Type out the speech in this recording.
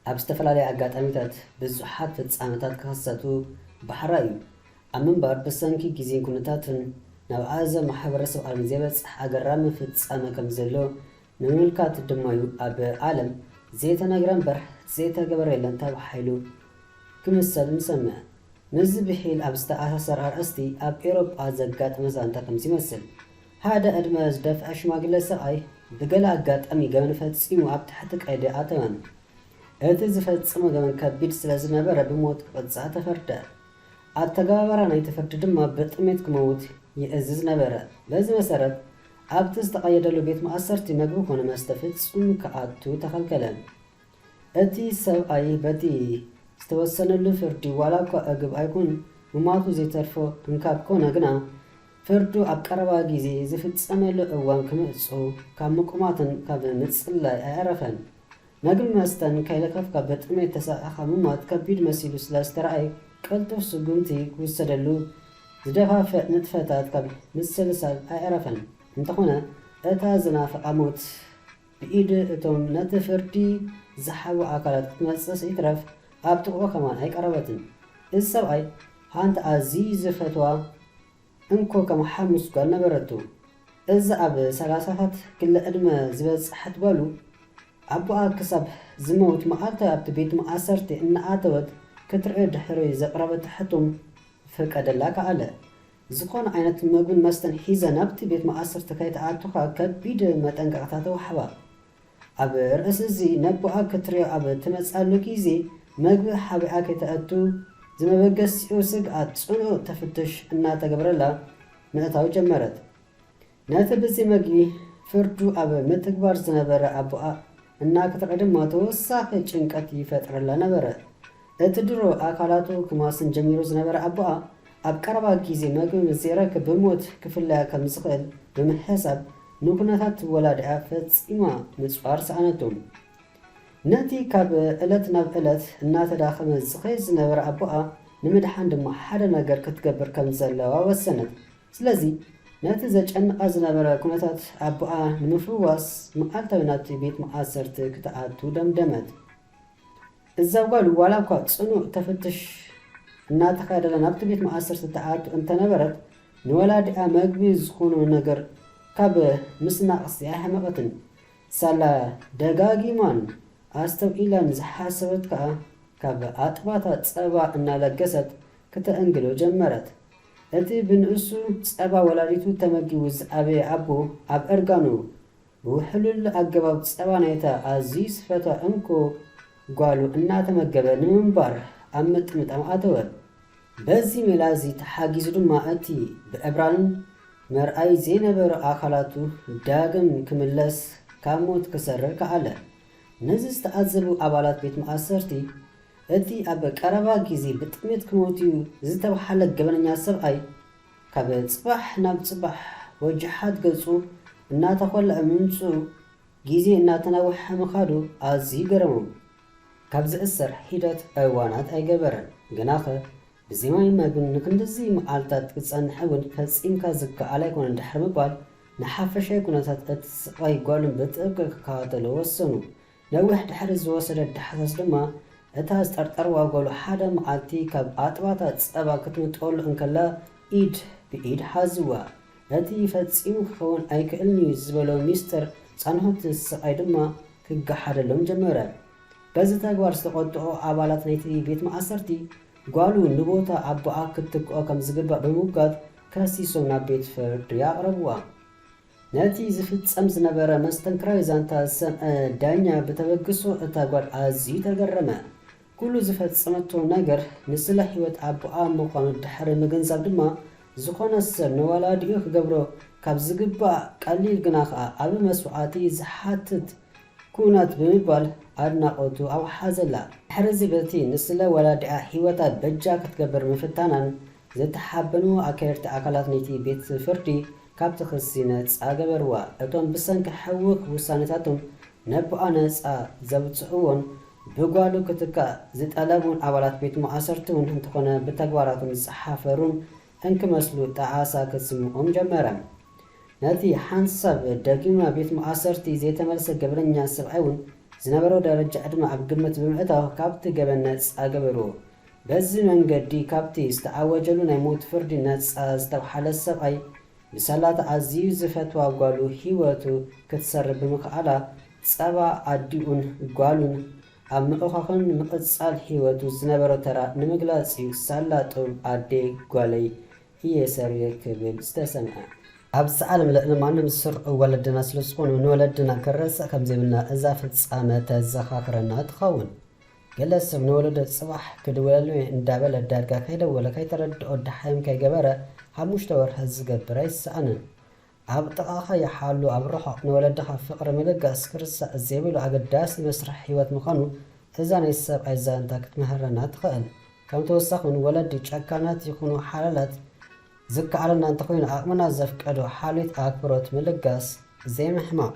ኣብ ዝተፈላለዩ ኣጋጣሚታት ብዙሓት ፍጻመታት ክኽሰቱ ባሕራ እዩ። ኣብ ምንባር ብሰንኪ ግዜን ኩነታትን ናብ ኣእዛው ማሕበረሰብ ዓለም ዘይበጽሕ ኣገራሚ ፍጻመ ከም ዘሎ ምምልካት ድማ'ዩ ኣብ ዓለም ዘይተነግረ እምበር ዘይተገበረ የለን ተባሂሉ ክምሰል ንሰምዕ። ምስዚ ብሒል ኣብ ዝተኣሳሰር ኣርእስቲ ኣብ ኤውሮጳ ዘጋጠመ ዛንታ ከምዚ ይመስል። ሓደ ዕድመ ዝደፍኣ ሽማግለ ሰብኣይ ብገለ ኣጋጣሚ ገበን ፈጺሙ ኣብ ትሕቲ ቀይዲ ኣተወ። እቲ ዝፈጸሞ ገበን ከቢድ ስለ ዝነበረ ብሞት ክቕጻዕ ተፈርደ። ኣተገባብራ ናይቲ ፍርዲ ድማ ብጥሜት ክመውት ይእዝዝ ነበረ። በዚ መሰረት ኣብቲ ዝተቐየደሉ ቤት ማእሰርቲ መግቢ ኮነ መስተ ፍጹም ክኣቱ ተኸልከለ። እቲ ሰብኣይ በቲ ዝተወሰነሉ ፍርዲ ዋላኳ እግብ ኣይኩን ምሟቱ ዘይተርፎ እንካብ ኮነ ግና ፍርዱ ኣብ ቀረባ ግዜ ዝፍጸመሉ እዋን ክምጽኡ ካብ ምቁማትን ካብ ምጽላይ ኣይኣረፈን። መግቢ መስተን ከይለከፍካ ብጥሜት ተሳቒኻ ምሟት ከቢድ መሲሉ ስለ ዝተርኣይ ቅልጡፍ ስጉምቲ ክውሰደሉ ዝደፋፍእ ንጥፈታት ካብ ምስልሳል ኣየዕረፈን። እንተኾነ እታ ዝናፍቓ ሞት ብኢድ እቶም ነቲ ፍርዲ ዝሓቡ ኣካላት ክትመጽእስ ይትረፍ ኣብ ጥቕኡ ከማን ኣይቀረበትን። እዚ ሰብኣይ ሓንቲ ኣዝዩ ዝፈትዋ እንኮ ከም ሓሙስ ጓል ነበረቱ። እዛ ኣብ ሰላሳታት ክሊ ዕድመ ዝበጸሐት ጓሉ፣ ኣቦኣ ክሳብ ዝመውት መዓልታዊ ኣብቲ ቤት መኣሰርቲ እናኣተወት ክትርእዮ ድሕሪ ዘቕረበቶ ሕቶም ፍቀደላ ከኣለ። ዝኾነ ዓይነት መግብን መስተን ሒዘ ናብቲ ቤት መኣሰርቲ ከይትኣቱ ከኣ ከቢድ መጠንቀቕታ ተዋሕባ። ኣብ ርእሲ እዚ ነቦኣ ክትሪኦ ኣብ ትመጽኣሉ ግዜ መግቢ ሓቢኣ ከይተእቱ ዝመበገሲኡ ስግኣት ጽኑኡ ተፍትሽ እናተገብረላ ምእታው ጀመረት። ነቲ ብዚ መግቢ ፍርዱ ኣብ ምትግባር ዝነበረ ኣቦኣ እናክትርኢ ድማ ተወሳኺ ጭንቀት ይፈጥረላ ነበረ። እቲ ድሮ ኣካላቱ ክማስን ጀሚሩ ዝነበረ ኣቦኣ፣ ኣብ ቀረባ ግዜ መግቢ ምስ ዘይረክብ ብሞት ክፍለያ ከም ዝኽእል ብምሕሳብ፣ ንኩነታት ወላዲኣ ፈጺማ ምጽዋር ሰኣነቱ። ነቲ ካብ ዕለት ናብ ዕለት እናተዳኸመ ዝኸይድ ዝነበረ ኣቦኣ ንምድሓን ድማ ሓደ ነገር ክትገብር ከም ዘለዋ ወሰነት። ስለዚ ነቲ ዘጨንቓ ዝነበረ ኩነታት ኣቦኣ ንምፍዋስ፣ መዓልታዊ ናብቲ ቤት ማኣሰርቲ ክትኣቱ ደምደመት። እዛ ጓል ዋላ እኳ ጽኑዕ ተፍትሽ እናተኻየደላ ናብቲ ቤት ማእሰርቲ ትኣቱ እንተነበረት፣ ንወላዲኣ መግቢ ዝኾኖ ነገር ካብ ምስናቕስ ኣይሓመቐትን። ሳላ ደጋጊማን ኣስተውዒላን ዝሓሰበት ከኣ ካብ ኣጥባታ ጸባ እናለገሰት ክተእንግዶ ጀመረት። እቲ ብንእሱ ጸባ ወላዲቱ ተመጊቡ ዝዓበየ ኣቦ ኣብ እርጋኑ ብውሕሉል ኣገባብ ጸባ ናይታ ኣዝዩ ዝፈትዋ እንኮ ጓሉ እናተመገበ ንምንባር ኣብ ምጥምጣም ኣተወ። በዚ ሜላ'ዚ ተሓጊዙ ድማ እቲ ብዕብራን መርኣዪ ዘይነበሮ ኣካላቱ ዳግም ክምለስ ካብ ሞት ክሰርር ከኣለ። ነዚ ዝተዓዘቡ ኣባላት ቤት ማእሰርቲ፣ እቲ ኣብ ቀረባ ግዜ ብጥሜት ክሞት'ዩ ዝተብሃለ ገበነኛ ሰብኣይ ካብ ጽባሕ ናብ ጽባሕ ወጀሓት ገጹ እናተኾልዐ ምምጽኡ፣ ግዜ እናተናውሐ ምኻዱ ኣዝዩ ገረሞም። ካብ ዝእሰር ሒደት እዋናት ኣይገበረን፣ ግናኸ ብዘይ ማይን መግብን ንክንድዚ መዓልታት ክትጸንሕ እውን ፈጺምካ ዝከኣል ኣይኮነን ድሕሪ ምባል፣ ንሓፈሻዊ ኩነታት እትስቓይ ጓሎም ብጥብቂ ክከታተሉ ወሰኑ። ነዊሕ ድሕሪ ዝወሰደ ዳህሳስ ድማ፣ እታ ዝጠርጠርዋ ጓሉ ሓደ መዓልቲ ካብ ኣጥባታ ጸባ ክትምጠወሉ እንከላ ኢድ ብኢድ ሓዝዋ። እቲ ፈጺሙ ክኸውን ኣይክእልን'ዩ ዝበሎ ሚስተር ጻንሆት ስቓይ ድማ ክገሓደሎም ጀመረ። በዚ ተግባር ዝተቖጥዑ ኣባላት ናይቲ ቤት ማእሰርቲ፣ ጓሉ ንቦታ ኣቦኣ ክትክኦ ከም ዝግባእ ብምምጓት ከሲሶም ናብ ቤት ፍርዲ ኣቕረብዋ። ነቲ ዝፍጸም ዝነበረ መስተንክራዊ ዛንታ ዝሰምዐ ዳኛ ብተበግሶ እታ ጓል ኣዝዩ ተገረመ። ኩሉ ዝፈጸመቶ ነገር ንስለ ህይወት ኣቦኣ ምዃኑ ድሕሪ ምግንዛብ ድማ ዝኾነ ሰብ ንወላዲኡ ክገብሮ ካብ ዝግባእ ቀሊል ግና ከኣ ዓቢ መስዋዕቲ ዝሓትት ኩነት ብምባል ኣድናቖቱ ኣውሓዘላ። ድሕርዚ በቲ ንስለ ወላዲኣ ህይወታ በጃ ክትገብር ምፍታናን ዝተሓበኑ ኣካየድቲ ኣካላት ነቲ ቤት ፍርዲ ካብቲ ክሲ ነጻ ገበርዋ። እቶም ብሰንኪ ሕዉኽ ዉሳነታቶም ነቦኣ ነጻ ዘዉጽእዎን ብጓሉ ክትካእ ዝጠለቡን ኣባላት ቤት ማእሰርቲ እዉን እንተኾነ ብተግባራቶም ዝሓፈሩን እንክመስሉ ጣዕሳ ክስምኦም ጀመረ። ነቲ ሓንሳብ ደጊሙ ናብ ቤት ማእሰርቲ ዘይተመልሰ ገበነኛ ሰብኣይ እዉን ዝነበሮ ደረጃ ዕድመ ኣብ ግምት ብምእታዉ ካብቲ ገበን ነጻ ገበርዎ። በዚ መንገዲ ካብቲ ዝተኣወጀሉ ናይ ሞት ፍርዲ ነጻ ዝተብሓለ ሰብኣይ፣ ብሰላታ ኣዝዩ ዝፈትዋ ጓሉ ህይወቱ ክትሰርብ ብምኽኣላ፣ ጸባ ኣዲኡን ጓሉን ኣብ ምእኻኽን ንምቕጻል ህይወቱ ዝነበሮ ተራ ንምግላጽ'ዩ ሳላ ጡብ ኣዴ ጓለይ እየ ሰሪረ ክብል ዝተሰምዐ። ኣብ ዓለም ልዕሊ ማንም ዝስርዑ ወለድና ስለዝኾኑ ንወለድና ክንረስዕ ከምዘይብልና እዛ ፍጻመ ተዘኻኽረና ትኸውን። ገለ ሰብ ንወለዶ ጽባሕ ክድውለሉ'የ እንዳበለ ዳርጋ ከይደወለ ከይተረድኦ ደሓይም ከይገበረ ሓሙሽተ ወርሒ ዝገብር ኣይሰኣንን። ኣብ ጥቓኻ ይሓሉ ኣብ ርሑቕ ንወለድኻ ፍቕሪ ምልጋስ ክርሳዕ ዘይብሉ ኣገዳሲ መስርሕ ህይወት ምዃኑ እዛ ናይ ሰብኣይ ዛንታ ክትምህረና ትኽእል። ከም ተወሳኺ'ውን ወለዲ ጨካናት ይኹኑ ሓላላት ዝከኣለና እንተኾይኑ ዓቕምና ዘፍቀዶ ሓልዮት ኣክብሮት ምልጋስ ዘይምሕማቕ።